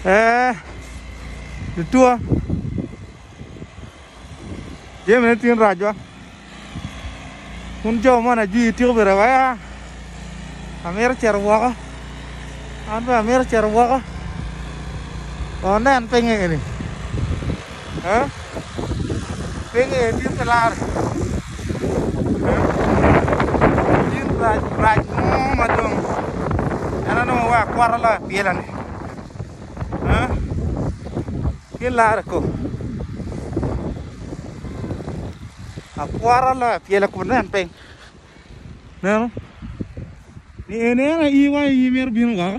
Ee, lutuwa jamine tin racwa kun jo moni ajwi tiko bene waya amito cito woko an bene amito cito woko wun nen pinye eni Pe ngeyo tye ka laro gin rac rac mo ma dong en aye dong oa kwota loyo apilane tye laro kok akwota loyo apila kun nen piny neno ni en aye aii wang aii mito bino woko.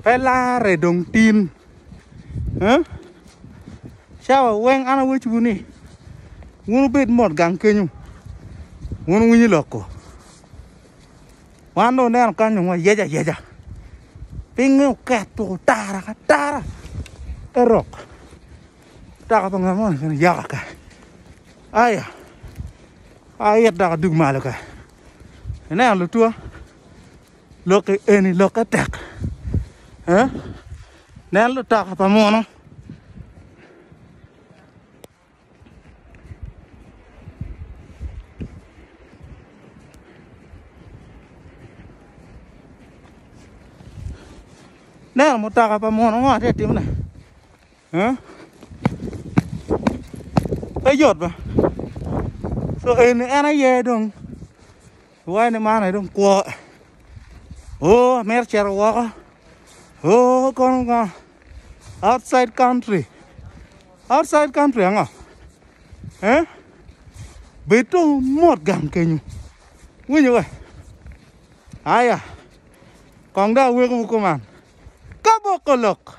Pe larre dong tin cawa weng an awecwu ni wun wubed mot gang kenyu wun wunywinyo lok ko wan dong wuneno kany dong wayec ayeca pingnge oketo tara ki atara te rok mutoka pa ngat moni kene yaka kany aya aa it dok adug malo kany. Ineno lutwa lok eni lokke tek eh? nen lutoka pa muno neno mutoka pa muno ngo tye ka timone. Huh? Pe yot ba. So eni en aye dong iwaye ni man aye dong kwo. Oh, amito cito woko. Oh, kono ngo? Outside country. Outside country ango? Eh? Bed to mot gang kenyo. Winyo we? Aya. Kong da aweko kuman. Kaboko lok.